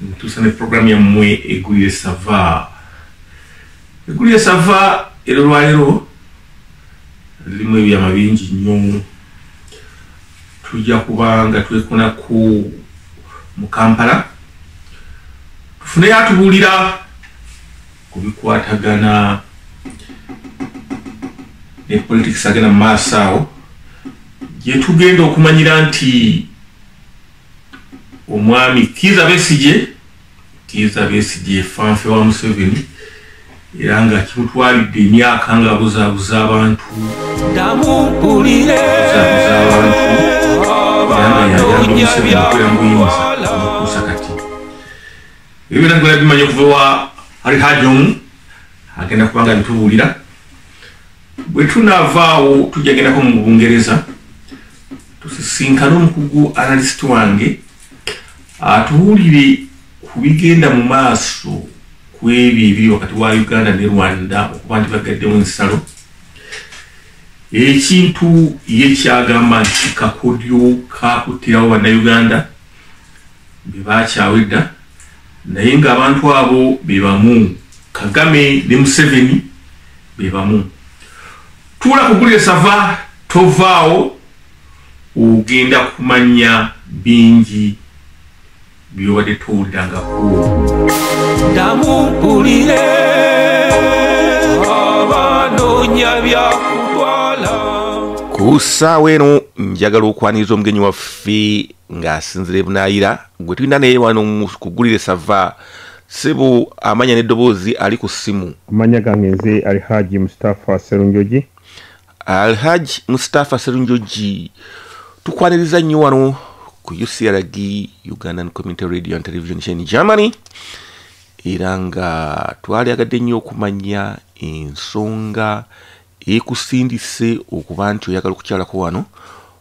ntusa ne program yammwe egulire sava egulire sava era olwaleero lirimu ebyama bingi nnyo tujja kuba nga twekona ku mu kampala tufuneyo atubuulira ku bikwatagana ne politics agenda mu maaso awo gyetugenda okumanyira nti omwami kiiza besigye kiiza besigye fanfe wa museveni era nga kimutwalidde emyaka nga buzabuza abantu namumpulire ebiragala bimanyi okuva wa alihajomu agenda kubanga bitubuulira Bwe tunaavaawo tujja gendako mu Bungereza tusisinkane omukugu analyst wange atuwulire ku bigenda mu maaso ku ebyo ebiri wakati wa Uganda ne Rwanda okuba nti bagaddewo ensalo ekintu ye kyagamba nti kakodyo kakuttirawo bannayuganda be bakyawa edda naye ng'abantu abo be bamu kagame ne museveni bebamu tuula kugulire sava tovaawo ogenda kumanya bingi byobadde towulirangakudamupulire abanonya byakutwala ku ssaawa eno njagala okwaniriza omugenyi waffe ng'asinzira ebunayira gwe tulina naye wano kugulire sava Sibu amanya ne dobozi ali ku simu. Amanya gange nze Alhaji Mustafa Serunjoji. Alhaji Mustafa Serunjoji. Tukwaniriza nnyo wano ku UCRG Ugandan Community Radio and Television Chain Germany. Era nga twali agadde nnyo okumanya ensonga ekusindise okuba nti oyagala okukyalako wano.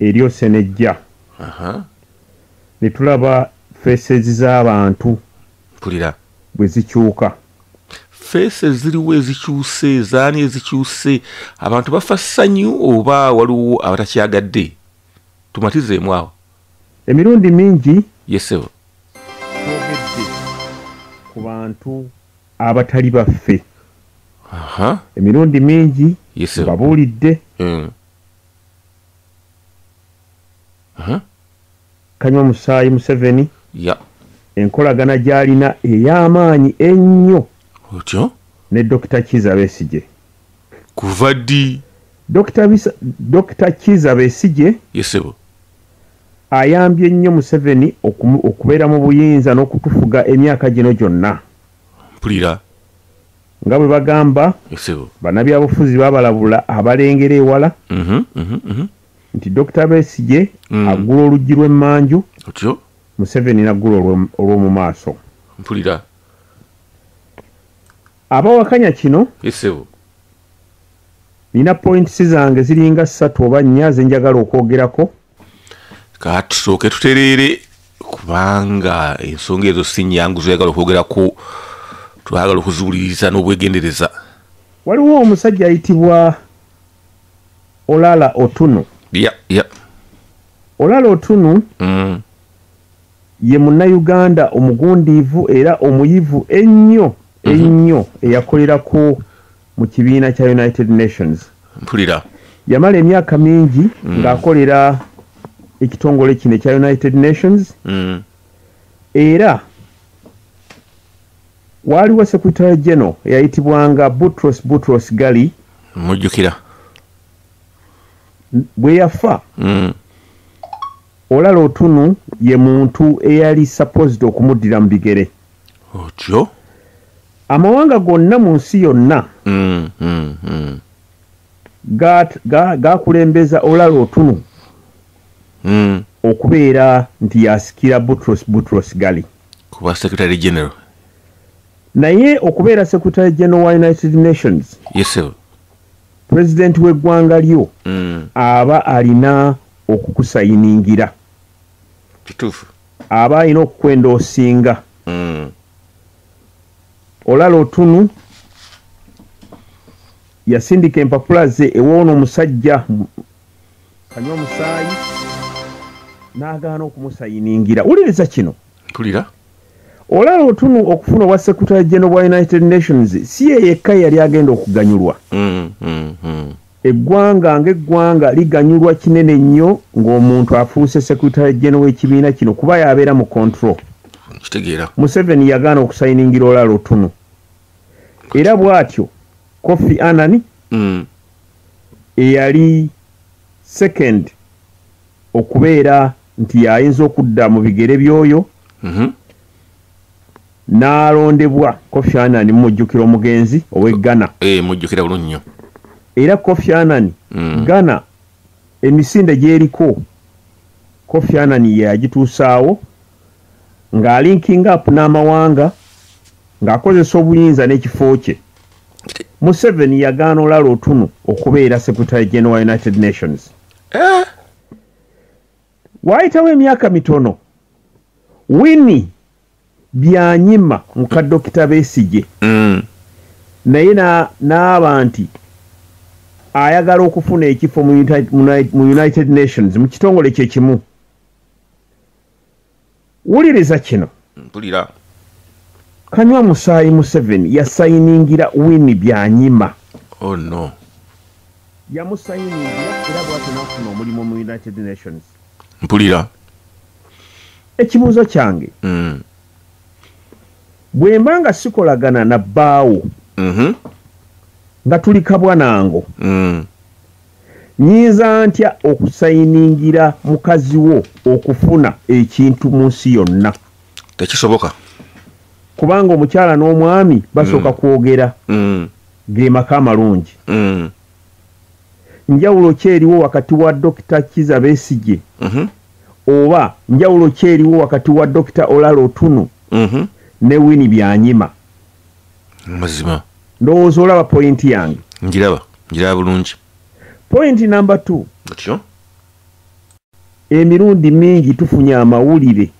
eri osenejja netulaba faces z'abantu mpulira bwe zikyuka feesi eziriwo ezikyuse ezaani ezikyuse abantu bafa ssanyu oba waliwo abatakyagadde tumatizeemu awo emirundi mingi yesebo twogedde ku bantu abatali baffe emirundi mingi babuulidde hmm. uh-huh. kanywa musaayi museveni yeah. enkolagana gyalina ey'amaanyi ennyo otyo ne dokita kiza besije kuva ddi dokita kiza besije yesebo ayambye nnyo museveni okubeera mu buyinza n'okutufuga emyaka gino gyonna mpulira nga bwe bagamba banabyabufuzi babalabula abalengera ewala mhm, mhm, mhm. nti dokita besigye mm. aggula oluggi lw'emmanju museveni naggula olw'omu maaso mpulira abawakanya kino nina pointisi zange ziringa ssatu oba nnya zenjagala okwogerako katusooke tutereere kubanga ensonga ezo si nyangu zoyagala okwogerako twagala okuziwuliriza n'obwegendereza waliwo omusajja ayitibwa olala otunu yeah, yeah. olala otunu mm. ye munnayuganda omugundiivu era omuyivu ennyo mm-hmm. ennyo mm -hmm. eyakolera ku mu kibiina kya united nations mpulira yamala emyaka mingi mm. ng'akolera ekitongole kino ekya united nations mm. era waaliwo secretary general eyayitibwanga butros butros gali mujjukira bwe yafa mm. olala otunu ye muntu eyali supposed okumuddira mu bigere otyo amawanga gonna mu nsi yonna mm, mm, mm. gakulembeza ga, ga olala otunu mm. okubeera nti yasikira butros butros gali kuba secretary general naye okubeera secretary general wa united nations yes, president w'eggwanga lyo mm. aba alina okukusayiningira kituufu aba alina okukwenda osinga mm. olala otunu yasindika empapula ze ewoono omusajja kanywa omusaayi n'agaana okumusayiningira wuliriza kino tulira olaba otunu okufuna obwa secretary general bwa united nations si ye yekka yali agenda okuganyulwa mm, mm, mm. Eggwanga ng'eggwanga liganyulwa kinene nnyo ng'omuntu afuuse Secretary General w'ekibiina kino kuba y'abeera mu control. Kitegeera. Museveni yagaana okusayiningira olala otunu. Era bw'atyo Kofi Anani mm. eyali second okubeera nti y'ayinza okudda mu bigere by'oyo mm -hmm. n'alondebwa Kofi Annan mumujjukira omugenzi ow'e Ghana eh, mujjukira bulungi nnyo era Kofi Annan mm. Ghana emisinde gy'eriko Kofi Annan yagituusaawo ng'alinkinga apu n'amawanga ng'akozesa obuyinza n'ekifo kye Museveni yagaana olala otunu okubeera Secretary General United Nations eh? waayitawo emyaka mitono wini byanyima muka dokita besigye mm. naye naaba nti ayagala okufuna ekifo mu united nations mu kitongole kyekimu wuliriza kino mpulira kanywa musaayi museveni yasayiningira wini byanyima oh no yamusayiningira era bwatyo nafuna omulimu mu united nations mpulira ekibuuzo kyange mm. bwemba nga sikolagana na bbaawo mm -hmm. nga tuli kabwanango mm. Nyinza ntya okusayiningira mukazi wo okufuna ekintu mu nsi yonna? Tekisoboka. Kubanga omukyala n'omwami basooka mm. kwogera mm. ge maka amalungi. Mm. Njawulo ki eriwo wakati wa Dokita Kiza Besigye? Mm -hmm. oba njawulo ki eriwo wakati wa dokita olala otunu mm -hmm. ne wini byanyima mazima ndowooza olaba pointi yange njiraba njiraba bulungi pointi namba t atyo emirundi mingi tufunye amawulire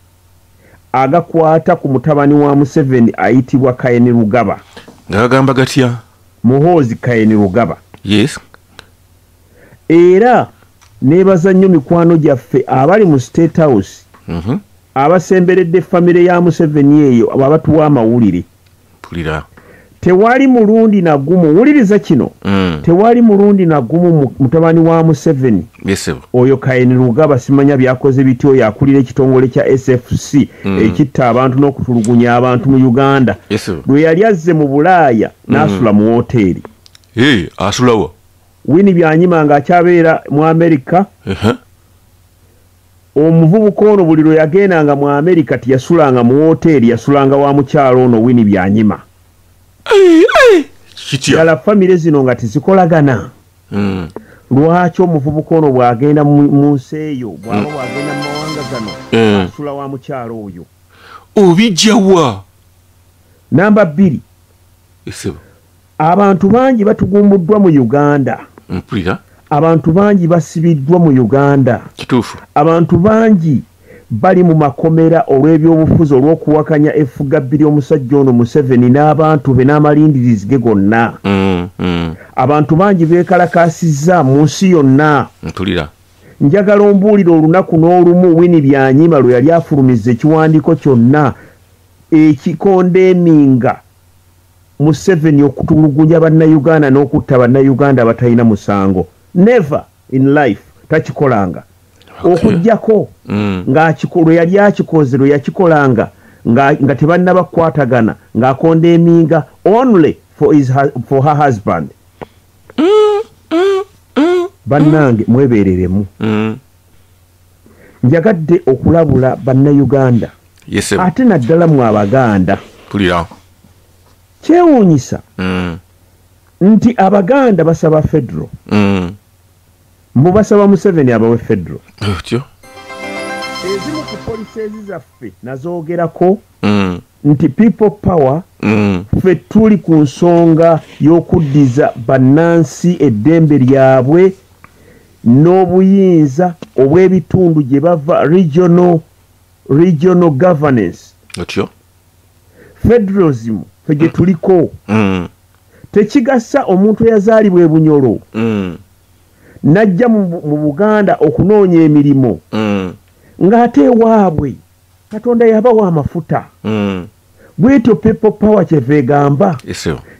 agakwata ku mutabani wa museveni ayitibwa kayeni rugaba ngaagamba gatya muhoozi kayeni rugaba yes era nebaza nnyo mikwano gyaffe abali mu state house mm -hmm. abasemberedde famire ya museveni eyo abatuwa amawulire mpulira tewali mulundi na gumu wuliriza kino mm. tewali mulundi na gumu mutabani wa museveni yes, oyo kaini lugaba simanya byakoze bitya oyo akulira ekitongole kya sfc mm. ekitta abantu n'okutulugunya abantu mu uganda yes, lwe yali azze mu bulaaya mm. n'asula mu woteeri hey, asulawa wini byanyima nga akyabeera mu amerika uh -huh. Omuvubuka ono buli lwe yagendanga mu Amerika teyasulanga mu wooteeri, yasulanga wa mukyala ono Winnie Byanyima. Ddala famire zino nga tezikolagana? Hmm. Lwaki omuvubuka ono bw'agenda mu nsi eyo bw'aba hmm. bw'agenda mu mawanga gano hmm. asula wa mukyala oyo? Obijja wa? Namba bbiri. abantu bangi batugumbuddwa mu uganda mpulira abantu bangi basibiddwa mu uganda kituufu abantu bangi bali mu makomera olw'ebyobufuzi olw'okuwakanya effugabbi ly'omusajja ono museveni n'abantu be n'amalindirizi ge gonna mm, mm. abantu bangi beekalakaasizza mu nsi yonna mpulira njagala ombuulira olunaku n'olumu wini byanyima lwe yali afulumiza ekiwandiiko kyonna ekikondeeminga museveni okutulugunya bannayuganda n'okutta bannayuganda abatalina musango never in life takikolanga okujjako mm. lwe yali akikoze lwe yakikolanga nga tebannabakwatagana ng'akonda eminga only for, his, for her husband mm, mm, bannange mwebeereremu njagadde okulabula bannayuganda ate naddala mu abaganda kyewuunyisa mm. nti abaganda basaba federo mm. mbu basaba museveni abawe federo ezimu ku poliseezi zaffe nazoogerako mm. nti people power mm. fe tuli ku nsonga y'okuddiza bannansi eddembe lyabwe n'obuyinza obw'ebitundu gye bava regional, regional governance otyo federalism fe gye tuliko mm. tekigasa omuntu eyazaalibwa ebunyolo mm. najja mu buganda okunoonya emirimu mm. ng'ate ewaabwe katonda yabawa amafuta mm. bwetyo people power kyeva egamba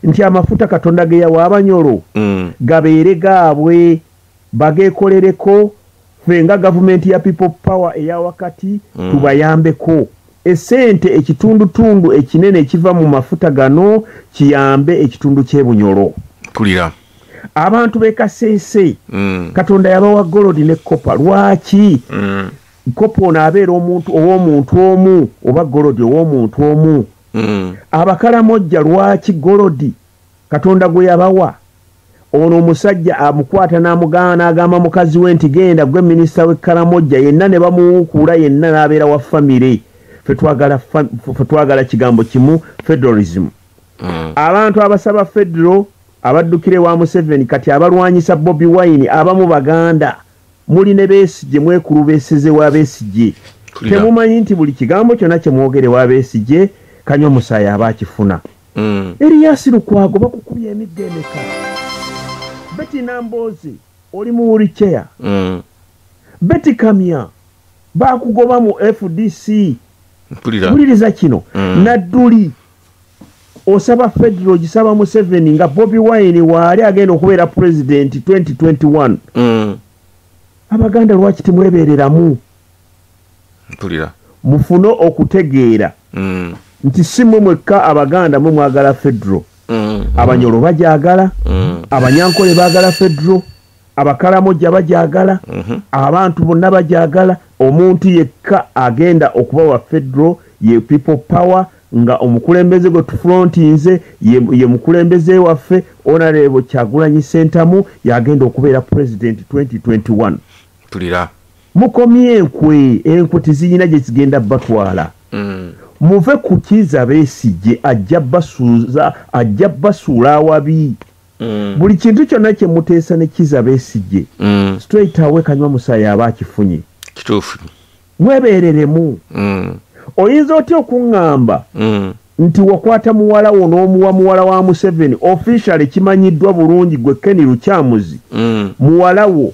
nti amafuta katonda geyawa abanyolo mm. gabeere gaabwe bagekolereko fe nga gavumenti ya people power eya wakati mm. tubayambeko esente ekitundutundu ekinene ekiva mu mafuta gano kiyambe ekitundu kyebunyolo kulira abantu bekaseese mm. katonda yabawa golodi ne kopa lwaki mm. kopi ono abeera omuntu ow'omuntu omu oba golodi ow'omuntu omu hmm. abakalamojja lwaki golodi katonda gwe yabawa ono omusajja amukwata n'amugaana n'agamba mukazi we nti genda gwe minisita w'ekkalamojja yenna ne bamuwukuula yenna n'abeera wa famire fe twagala kigambo kimu federalism hmm. abantu abasaba federo abaddukire wa museveni kati abalwanyisa bobi wine abamu baganda muli ne besigye mwekulubeseze wa besigye temumanyi nti buli kigambo kyona kyemwogere wa besigye kanywa omusaayi aba akifuna mm. eriyasi lukwago bakukubya emigga emeka beti namboozi oli mu wuriceya mm. beti kamya bakugoba mu fdc mpuliriza kino mm. nadduli osaba federal gisaba museveni nga bobi wine waali agenda okubeera president 2021 mm. abaganda lwaki timwebereramu mpulira mufune okutegeera mm. nti si mwe mwekka abaganda mwe mwagala federal mm. abanyolo bajagala mm. abanyankole bagala federal abakalamoja bajagala mhm. abantu bonna bajagala omuntu yekka agenda okuba wa federal ye people power nga omukulembeze gwe tufrontinze ye mukulembeze waffe onarebo kyagulanyi sentamu yagenda okubeera president 2021 tulira mukomye enkwe enkwe teziyina gyezigenda batwala mm. muve kukiza besigye ajja basuuza ajja basuula awabi mm. buli kintu kyonna kye muteesa ne kiza besigye mm. straight awe kanywa musaayi aba akifunye kituufu mwebeereremu mm. oyinza otya okuŋŋamba mm. nti wakwata muwala wo n'omuwa muwala wa museveni officially kimanyiddwa bulungi gwe keni lukyamuzi mm. muwala wo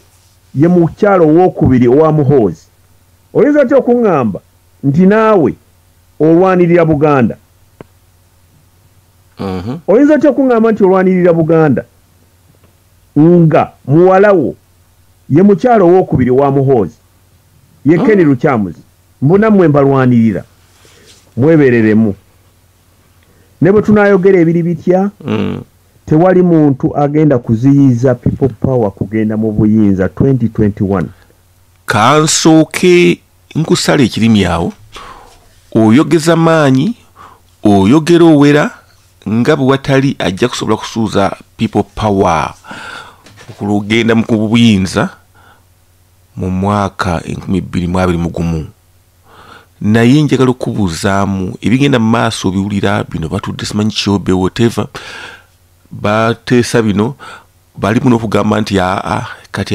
ye mukyalo owokubiri owa muhoozi oyinza otya okuŋŋamba nti naawe olwanirira buganda Mhm. oyinza otya okuŋŋamba nti olwanirira buganda nga muwala wo ye mukyala owokubiri owa muhoozi ye keni mm. lukyamuzi mbu nammwe mbalwanirira mwebereremu ne bwe tunayogera ebiri bitya mm. tewali muntu agenda kuziyiza people power kugenda mu buyinza 2021 kansuuki nkusala ekirimi awo oyogeza maanyi oyogera owera nga bwe watali ajja kusobola kusuuza people power okulugenda mu kubuyinza mu mwaka enkumi bbiri mu abiri mu gumu naye njagala okubuuzaamu ebigenda mu maaso obiwulira bino batudde simanyi kyobe whatever bateesa bino balimu n'okugamba nti aa kati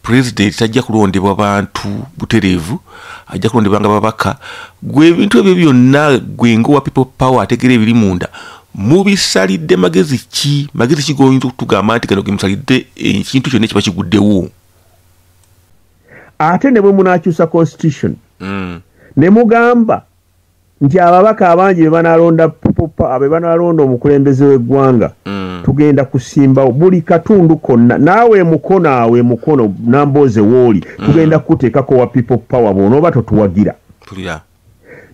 pulezidenti tajja kulondebwa bantu butereevu ajja kulondebwa nga babaka gwe ebintu ebyo byonna gwe ngaowa people power ategeera ebiri munda mubisalidde magezi ki magezi ki goyinza okutugamba nti gano gemusalidde ekintu kyonna kiba kiguddewo ate ne bwe munakyusa constitution mm. ne mugamba nti ababaka abangi bebanalonda popa bebanalonda omukulembeze w'eggwanga mm. tugenda kusimbawo buli katundu konna naawe emukono awo emukono nambooze wooli mm. tugenda kukuteekako wa people power bwonooba totuwagira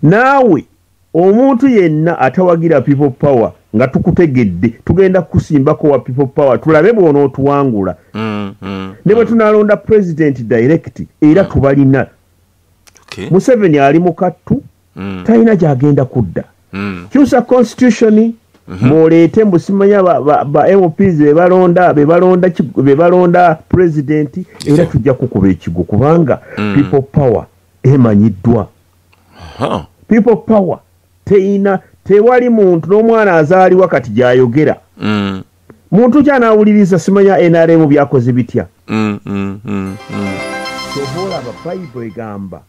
naawe omuntu yenna atawagira people power nga tukutegedde tugenda kukusimbako wa people power tulabe bwonootuwangula mm, ne bwe tunalonda president direct era tubalina okay. museveni ali mukattu mm. talina gyagenda kudda mm. kyusa constitution mm -hmm. muleete mbusimanya bamps bebalonda bebalonda bebalonda president era yeah. tujja kukuba ekigo kubanga mm. people power emanyiddwa uh -huh. people power teyina tewali muntu n'omwana azaalibwa kati gyayogera mm. muntu ki anaawuliriza simanya nrm byakoze bitya mm, mm, mm, kyova olaba bayibo egamba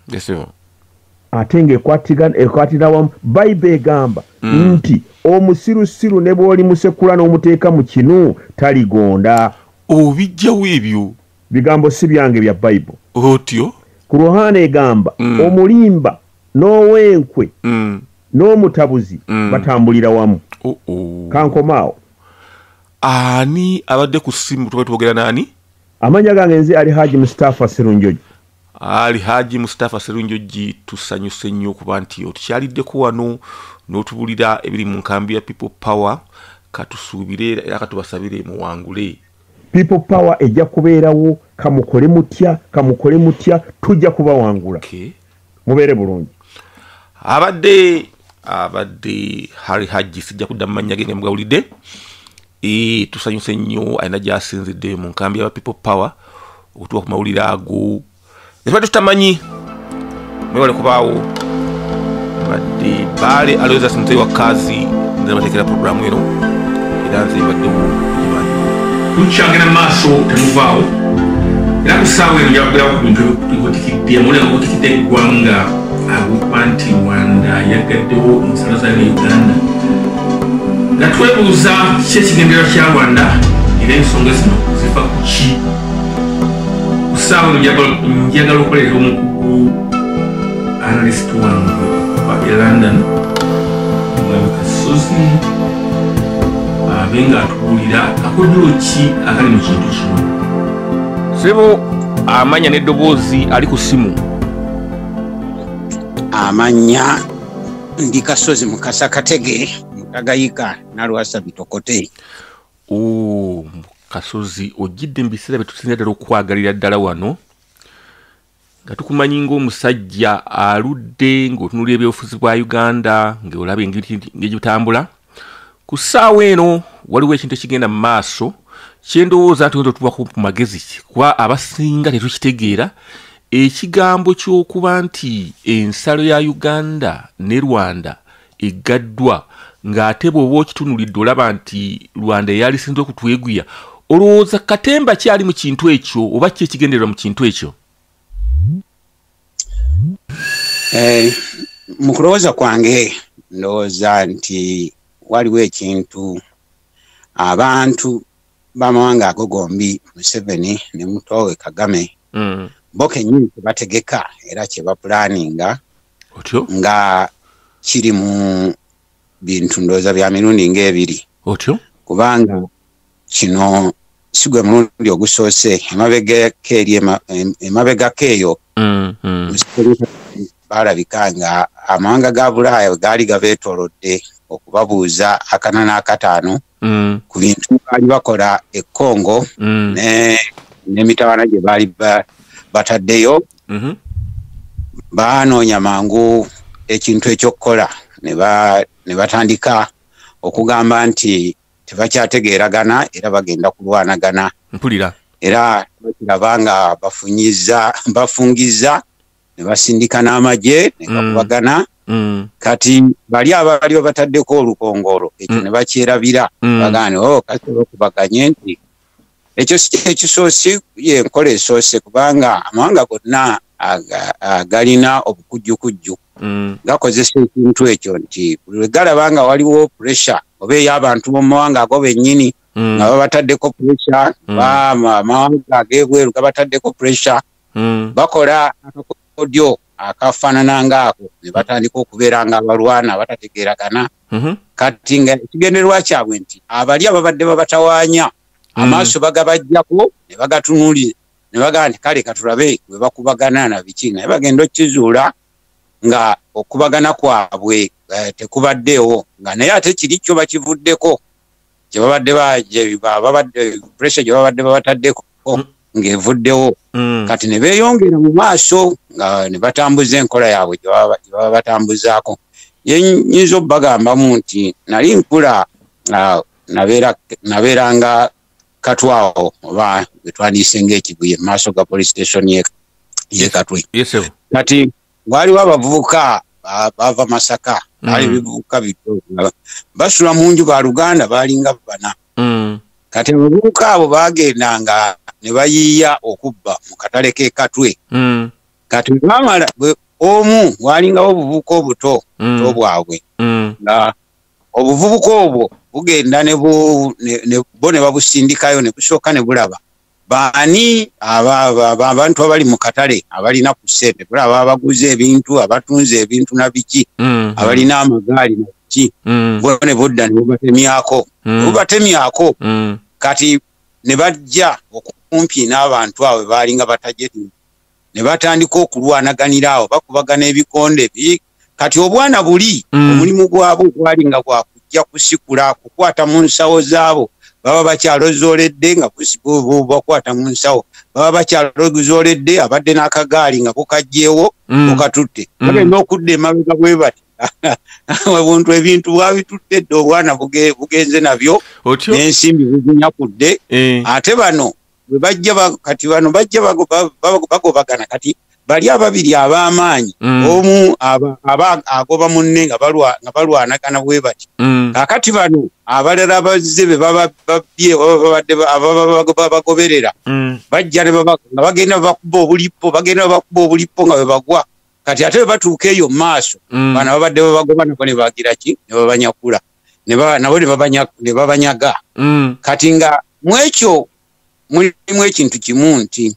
ate ngaekwatira wamu bayibo egamba nti omusirusiru ne bwoli musekula n'omuteeka mu kinu taligonda obijjawo ebyo bigambo si byange bya bayibo otyo ku ruhana egamba omulimba n'owenkwe mm. n'omutabuzi mm. batambulira wamu oh, oh. kankomaawo ani abadde ku simu tuba twogera naani amanya gange nze ali haji mustafa serunjoji ali haji mustafa serunjoji tusanyuse nnyo okuba nti otukyaliddeko wano n'otubulira ebiri mu nkambi ya people power katusuubire era katubasabire muwangule people power ejja kubeerawo kamukole mutya kamukole mutya tujja kubawangula okay. mubeere bulungi abadde abadde hari hajji sijja kudda mumanya ge nga mugawulidde e, tusanyuse nnyo alina gyasinzidde mu nkambi yaba people power okutuwa ku mawulire ago ebadde tutamanyi mwewale kubaawo baali aloweza sente wa kazi nabatekera programu eno era nze baddewo tukyagenda maaso temuvaawo era kusaawa eno njakugerawo ku bintu ebikutikidde amulenga kutikidde eggwanga agukwa nti rwanda yagaddewo ensalo zayo ne uganda nga twebuuza ki ekigendera kya rwanda era ensonga zino zifa ku ki kusaawa eno njagala okukolera omukugu analyst wange wa e london mwebika susi abe nga atubuulira akojolo ki akali mu kintu kino sebo amanya n'eddoboozi ali ku simu amanya ndi kasozi mukasa katege mutagayika nalwasa bitokote kasozi ojjidde mu biseera bye tusinza ddala okwagalira ddala wano nga tukumanyi ngaomusajja aludde ngaotunulira ebyobufuzi bwa uganda ngaolaba engegitambula ku ssaawa eno waliwo ekintu ekigenda mu maaso kyendowooza nti oyinza otubaku ku magezi kuba abasinga tetukitegeera ekigambo ky'okuba nti ensalo ya uganda ne rwanda eggaddwa ng'ate bw'oba okitunulidde olaba nti rwanda eyalisinze okutweguya olowooza katemba kyali mu kintu ekyo oba ki ekigendererwa mu kintu ekyo eh, mu kulowooza kwange ndowooza nti waliwo ekintu abantu bamawanga ago gombi museveni ne mutowe kagame mm. bo kenyini kyebategeka era kyebapulaninga otyo nga kiri mu bintu ndowooza bya mirundi ng'ebiri otyo kubanga kino si gwe mulundi ogusoose emabegako eri emabegako eyo mm, mm. baalabika nga amawanga ga bulaaya gaali gabeetolodde okubabuuza akana n'akataano mm. mm. ku bintu baali bakola e congo mm. n'emitawana gye baali bataddeyo mm -hmm. baanoonya mangu ekintu ekyokukola ne batandika okugamba nti tebakyategeeragana era bagenda kulwanagana mpulira era bakiraba nga bafunyiza bafungizza ne basindika n'amagye ne Mm. gakubagana Mm. kati bali abaali babataddeko olukongolo ekyo Mm. ne bakyerabira Mm. bagane o kati olwokubaganye nti ekyo si kyekisoose ye enkola esoose kubanga amawanga gonna aga- agalina obukujjukujju Mm. gakozesa ekintu ekyo nti buli lwe galaba nga waliwo puresha oba ey'abantu mu mawanga ago bennyini Mm. nga babataddeko puresha Mm. ba ma- amawanga ag'ebweru gabataddeko puresha hmm. bakola akakodyo akafaanana ngaako ne batandika okubeera nga abalwana abatategeeragana mhm. kati nga ekigendererwa kyabwe nti abali ababadde babatawaanya hmm. amaaso bagabajjako ne bagatunuli ne bagamba nti kale katulabe bwe bakubagana na biki naye bagenda okukizuula nga okubagana kwabwe eh, tekubaddeewo nga naye ate kiri kyo bakivuddeko gyebabadde babadde pressure gyebabadde babataddeko mm. ng'evuddewo mm. kati ne beeyongera mu maaso nga ne batambuza enkola yaabwe gyebaba batambuzaako yenyinza okubagambamu nti nali nkula nabeeranga katwawo oba wetwandiise ngaekibuye mu maaso ga police station ye katwe kati waliwo abavubuka bava masaka mm. ali bivubuka bito basula mu nju baluganda balinga bana mm. kati abavubuka abo bagendanga ne bayiiya okubba mu katale k'ekatwe mm. kati bamala omu walingawo obuvubuka obuto buto bwabwe nga obuvubuka obwo bugenda bo ne babusindikayo ne busooka ne bulaba baani abantu abali mu katale abalina ku ssente kula aba abaguza ebintu abatunze ebintu na biki mm. abalina amagaali na biki mm. bo ne budda ne bubatemyako mm. bubatemyako kati ne bajja okumpi n'abantu abo baalinga batajeti ne batandika okulwanaganira awo bakubagana ebikonde bi kati obwana buli mm. omulimu gwabwe gwali nga gwakujja kusikula kukwata mu nsawo zaabo baba bakyalozooledde nga bakwata mu nsawo baba bakyalozooledde abadde n'akagaali nga kukajjeewo mm. okatutte mm. bagenda okudda emabega bwe bati obuntu ebintu bwabitutte dde obwana bugenze nabyo n'ensimbi buzinyakudde eh. ate bano bajja kati bano bajja bagobagana kati bali ababiri ab'amaanyi mm. omu agoba munne nga balwanagana bwe bati mm. kakati bano abalala abazze be bababbye babagoberera mm. bajja nga bagenda bakuba obulippo bagenda bakuba obulippo nga bebagwa kati ate bebatuuka eyo mu maaso bana babadde babagoba nabo ne bagira ki ne babanyakula nabo ne babanyaga mm. kati nga mwekyo mulimu ekintu kimu nti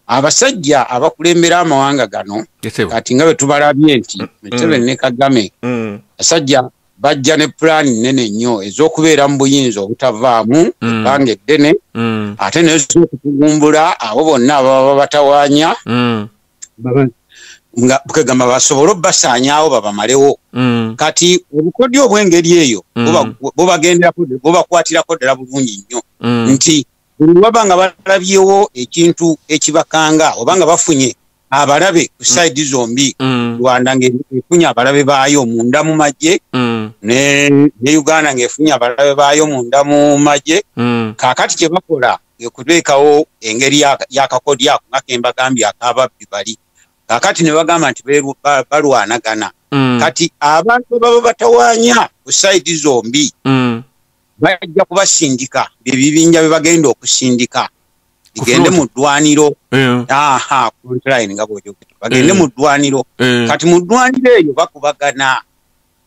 abasajja abakulembera amawanga gano kati nga bwetubalabye nti mm. museveni ne kagame mm. basajja bajja ne pulaani nnene nnyo ez'okubeera mu buyinza obutavaamu ebbanga eddene ate nezokutugumbula abo bonna ababa babatawanya nga kwegamba basobole obasaanyawo babamalewo mm. kati obukodyo obw'engeri eyo mm. bubakwatirako ddala bulungi nnyo mm. nti buli waba nga balabyewo ekintu ekibakanga oba nga bafunye abalabe ku saidi zombi rwanda ngaefunye abalabe baayo munda mu magye ne uganda ngaefunye abalabe baayo munda mu magye kakati kye bakola ekuteekawo engeri yakakodi ako nga kembagambye akababbi bali kakati ne bagamba nti balwanagana mm. kati abantu baba batawanya ku saidi zombi mm. bajja kubasindika byebibinja bye bagenda okusindika igende mu ddwaniro bagende mu ddwaniro kati mu ddwaniro eyo bakubagana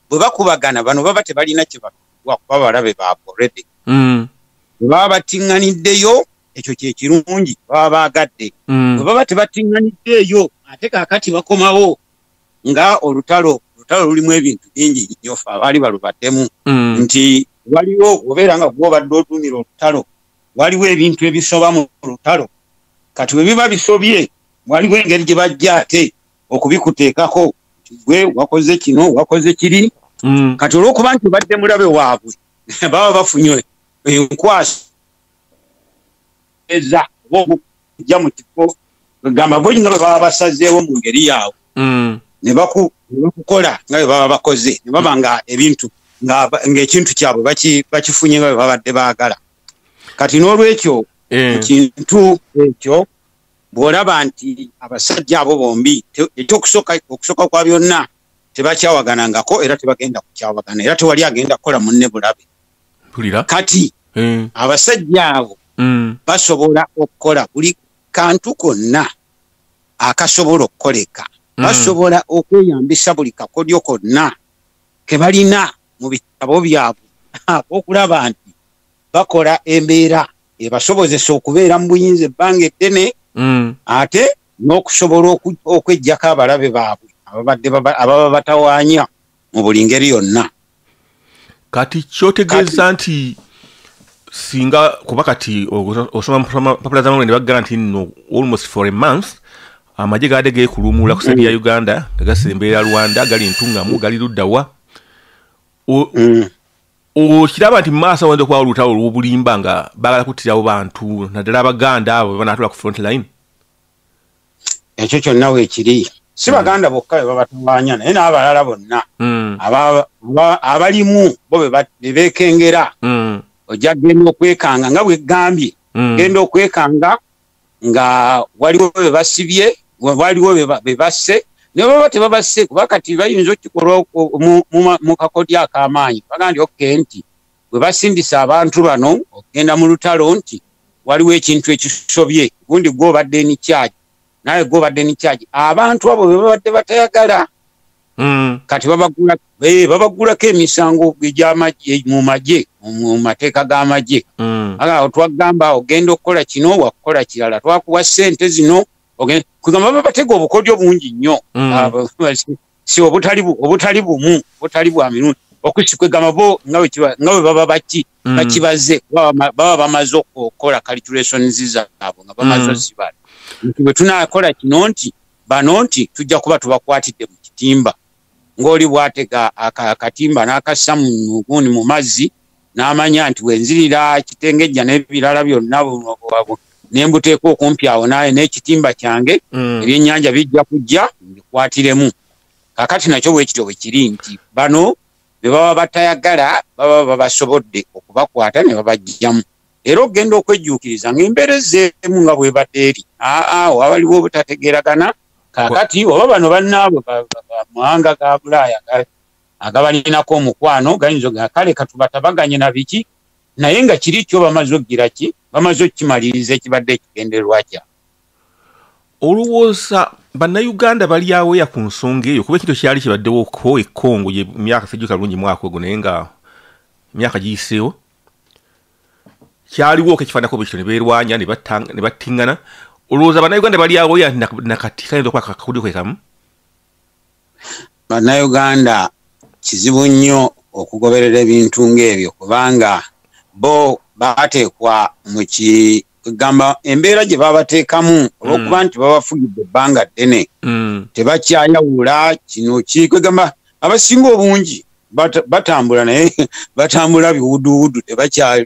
bwe bakubagana bano baba tebalina kyebakuba kuba balabe baabwe redi mm. bwe baba battiŋŋaniddeyo ekyo kye kirungi baba baagadde mm. bwe baba tebattiŋŋaniddeeyo ate kaakati bakomawo nga olutalo olutalo lulimu ebintu bingi nnyo fe abaali balubaddemu mm. nti waliwo obeera nga gwe obadde otuumira olutalo waliwo ebintu ebisoba mu lutalo kati bwe biba bisobye waliwo engeri gye bajja ate okubikuteekako gwe wakoze kino wakoze kiri mm. kati olwokuba nti obadde mulabe waabwe baba bafunye enkwasa eza obaokujja mu kifo gamba bonyina bwe baba basazeewo mu ngeri yaabwe mm. ne bakukola nga bwe baba bakoze ne baba nga ebintu ng'ekintu kyabwe bakifunye nga bwe babadde baagala kati n'olwekyo eh. ekintu ekyo bw'olaba nti abasajja abo bombi ekyokusooka okusooka kwa byonna tebakyawaganangako era tebagenda kukyawagana era tewali agenda kukola munne bulabe kati eh. abasajja abo mm. basobola okukola buli kantu konna akasobola okukoleka mm. basobola okweyambisa buli kakodyo konna ke balina mu bitabo byabwe okulaba nti bakola embeera ebasobozesa okubeera mu buyinza ebbanga eddene mm. ate n'okusobola okwejjako abalabe baabwe ababadde ababa batawaanya mu buli ngeri yonna kati kyotegeeza nti singa kuba kati osoma mpapula zamawulire ne bagala nti no almost for a month amagye gaade geekuluumuula ku saidi ya uganda nga gasembeera rwanda gali ntungamu gali luddawa mm. okiraba nti maaso awanza okuba olutalo olwobulimba nga bagala kuttirawo bantu naddala abaganda abo bebanatula ku front line ekyo kyonna wekiri si hmm. baganda bokka bebabatawanya naye n'abalala bonna hmm. abalimu bo bebekengera hmm. ojja genda okwekanga nga bwegambye genda okwekanga nga waliwo be basibye waliwo be basse ne baba tebabasse kuba kati bayinza okikolwa mu kakodyo ak'amaanyi baga nti okke nti bwe basindisa abantu bano okugenda mu lutalo nti waliwo ekintu ekisobye gundi gwe obadde enikyagi naye gwe obadde enikyagi abantu abo be babadde batayagala mm. kati eh, babagulako emisango mu magye mu mateeka g'amagye mm. aga twagamba ogenda okukola kino wakukola kirala twakuwa sente zino kugamba babatega obukodyo bungi nnyo mm. si obutali bumu obutali bwa mirundi okusikwegamba bo nga bwe baba baki mm. bakibaze baba bamaze okukola calculations zaabwe nga bamaze osibala nti bwe tunakola kino nti bano nti tujja kuba tubakwatidde mu kitimba ng'oli bwatega akatimba n'akassa mugundi mu mazzi n'amanya nti wenzirira kitengejja n'ebirala byonna ne mbuteekwa okumpi awo naye n'ekitimba kyange mm. ebyennyanja bijja kujja mbikwatiremu kakati nakyo bwekityo bwe kiri nti bano be baba batayagala baba babasobodde okubakwata ne babajjamu era okugenda okwejjuukiriza ng'embeera ezzeemu nga bwebadde eri aao abaliwo obutategeeragana kakati oba bano bannaabwe bamwanga ga bulaaya agabalinako omukwano gayinza oga kale katubatabaganye na biki naye nga kiri kyo bamaze okugira ki bamaze okukimaliriza ekibadde ekigendererwa kya olowooza bannayuganda bali aweya ku nsonga eyo kuba ekintu kyali kibaddewo ko ekongo ye myaka sejjuka bulungi mwaka ogwo naye nga myaka giyiseewo kyaliwo okekifanako bwekityo neberwanya nebattingana olowooza banauganda balyawo ya nakati kayinza okuba kakudi kwekamu banauganda kizibu nnyo okugoberera ebintu ng'ebyo kubanga bo bateekwa mu kigamba embeera gye babateekamu olwokuba mm. nti babafugidde ebbanga ddene mm. tebakyayawula kino kikwegamba abasinga obungi batambula naye batambula biwuduwudu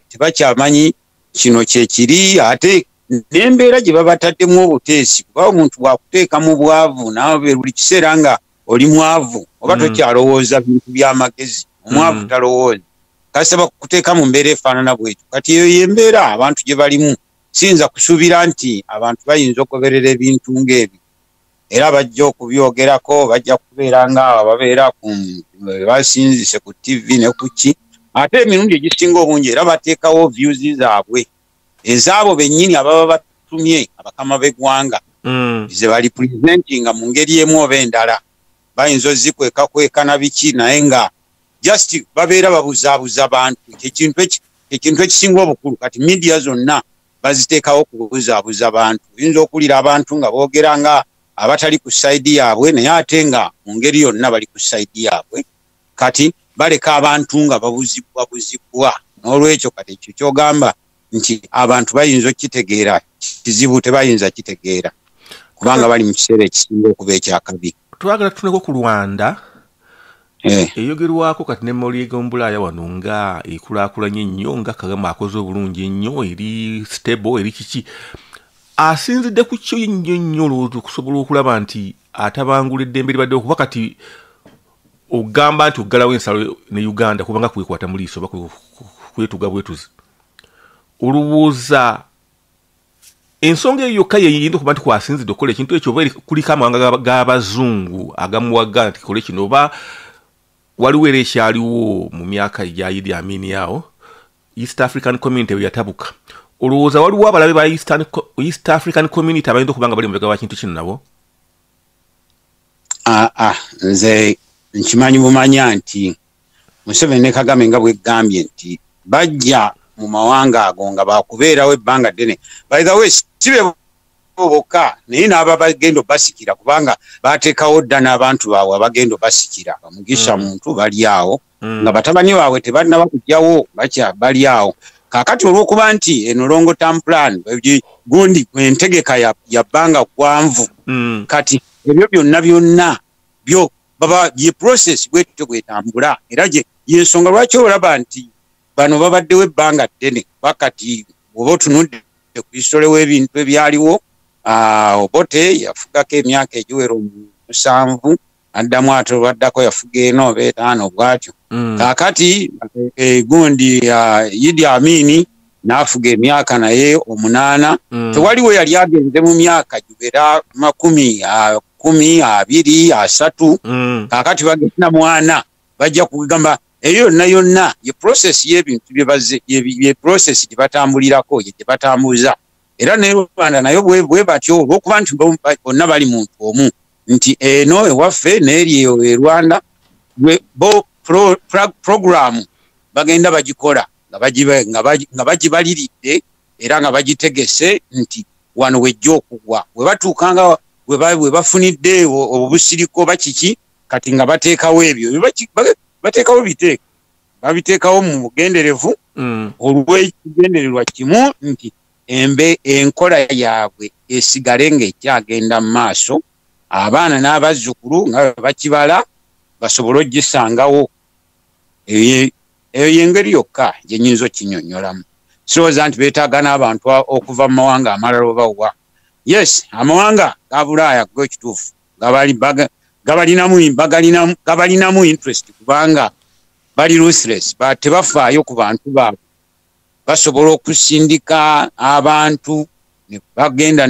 tebakyamanyi kino kyekiri ate nembeera gye babataddemu obuteesi kuba omuntu wakuteeka mu bwavu nawe buli kiseera nga oli mwavu oba mm. tokyalowooza bintu byamagezi omwavu mm. talowooza kasaba kuteeka mu mbeera efaanana bwekyo kati eyo yembeera abantu gye balimu siyinza kusuubira nti abantu bayinza okugoberera ebintu ngaebyo era bajja okubyogerako bajja kubeera nga ababeera basinzise ku tv ne kuki ate emirundi egisinga obungi era bateekawo views zaabwe ezaabo bennyini ababa batumye abakama b'eggwanga mm. ze bali presentinga mu ngeri emu oba endala bayinza ozikwekakweka na biki naye nga just babeera babuzaabuza bantu kyekintu ekisinga obukulu kati midiya zonna baziteekawo kubuzaabuza bantu oyinza okuwulira abantu nga boogera nga abatali ku sayidi yaabwe naye ate nga mu ngeri yonna bali ku sayidi yaabwe kati baleka abantu nga babuzibwa buzibwa n'olwekyo kati ekyo kyogamba nti abantu bayinza okukitegeera kizibu tebayinza kitegeera kubanga bali mu kiseera ekisinga okuba ekyakabi twagala tutuneko ku lwanda eh. eyogerwako kati ne moli egombulaaya wano nga ekulakulanye ennyo nga kagama akoze obulungi ennyo eri stable eri kiki asinzidde ku kyo nnyo nnyo olowooza okusobola okulaba nti atabangula eddembe libadde okuba kati ogamba nti oggalawo ensalo ne uganda kubanga kwekwata mu liiso oba kwetuga bwetuzi olowooza ensonga eyo yokka yeyinda okuba nti kwasinzidde okukola ekintu ekyo oba kuliko amawanga g'abazungu agamuwaga nti kole kino oba waliwo era ekyaliwo mu myaka egyayidi amini awo east african community we yatabuka olowooza waliwo abalabe ba east african community abayinza okuba nga bali mubega wa kintu kino nabo aa ah, ah, nze nkimanyi bumanya nti museveni ne kagame nga bwegambye nti bajja mu mawanga ago nga bakubeerawo ebbanga ddene by the way sibe bokka naye n'aba bagenda obasikira kubanga bateekawo dda n'abantu baabwe abagenda obasikira bamugisha mm. muntu bali awo mm. nga batabani baabwe tebanaba kujjawo bakya bali awo kakati olwokuba nti eno long term plan gundi entegeka ya bbanga gwanvu mm. kati ebyo byonna byonna byo baba ye process bwetyo bwetambula era gye yensonga lwaki olaba nti bano babaddewo ebbanga ddene bakati oba otunudde ku hisitole w'ebintu ebyaliwo ah, obote yafugako emyaka egiwera omusanvu addamu ate olwaddako yafuga eno oba etaano bwatyo mm. kakati eh, gundi ah, idi amini n'afuga emyaka naye omunaana mm. tewaliwo yali agenze mu myaka gibera makumi ah, kumi abiri asatu mm. kakati bagenda mwana bajja kugamba eyo yonna yonna ye process yebintu ye process gyebatambulirako ye gyebatambuza era ne rwanda nayo bwe batyo olwokuba nti bonna bali muntu omu nti eno ewaffe neeri eyo e rwanda bo programu bagenda bagikola nga bagibaliridde era nga bagitegese nti wano wejja okugwa we batuukanga we bafunidde obusiriko bakiki kati nga bateekawo ebyo bateekawo biteeka babiteekawo mu bugenderevu mm. olw'ekigendererwa kimu nti embe enkola yaabwe esigale ng'ekyagenda mu maaso abaana n'abazzukulu nga bakibala basobole okugisangawo eyo yengeri yokka gyenyinza okinyonyolamu sirowooza nti betaaga n'abantu okuva mu mawanga amalala obawa yes amawanga gabulaaya go ekituufu gabalinamu interest kubanga bali ruthless tebafaayo ku bantu baabwe basobola okusindika abantu bagenda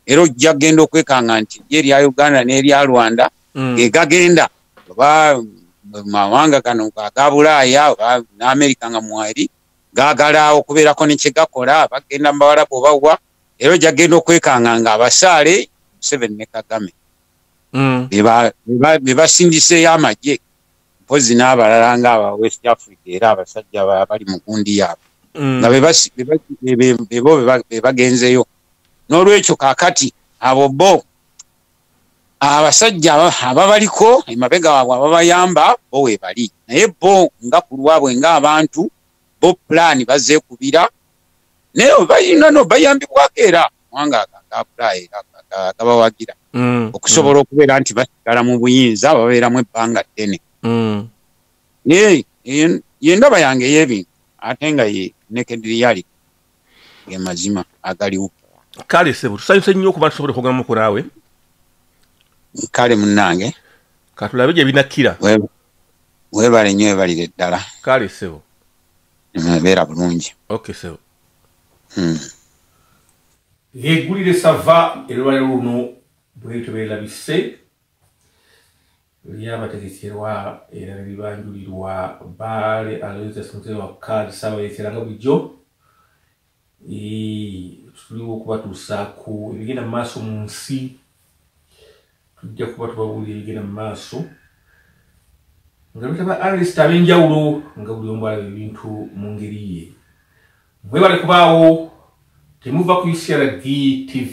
era ojja kugenda okwekanga nti ye erya uganda n'erya rwanda mm. egagenda oba mawanga gano aga bulaaya oba n'amerika nga mwali gaagala okubeerako ne kye gakola bagenda mu bawalabu obawa era ojja kugenda okwekanga nga abasaale museveni ne kagame mm. be basindiseeyo amagye mpozi n'abalala nga aba west africa era abasajja bali mu gundi yaabwe mm. nga bebo bebagenzeyo n'olwekyo kakati abo bo abasajja ababaliko emabega waabwe ababayamba bo webali naye bo nga ku lwabwe ngaabantu bo pulaani bazeekubira naye obalina no bayambibwako era kubanga agagapulaani era gabawagira mm, okusobola mm. okubeera nti basigala mu buyinza babeeramu ebbanga ddene mm. naye yendaba yange ey'ebintu ate nga ye nekediriyaliko ge mazima agaliwo kale sebo tusanyuse nnyo okuba tusobole okwogera muku naawe kale munnange katulabe gye binakkira weebale nnyo webalire ddala kale sebo beera bulungi ok sebo hmm. yegulire sava elwaliro luno bwetyo beerabise lyabategekerwa era ne libanjulirwa Bbaale Aloysius Mutebi wa Kaadi Ssaabayeekera nga bulijjo tuliwo okubatuusaako ebigenda mu maaso mu nsi tujja kuba tubabuulira ebigenda mu maaso nga bitaba arist ab'enjawulo nga buli omu alaba ebintu mu ngeri ye mwebale kubaawo temuva ku ucrd tv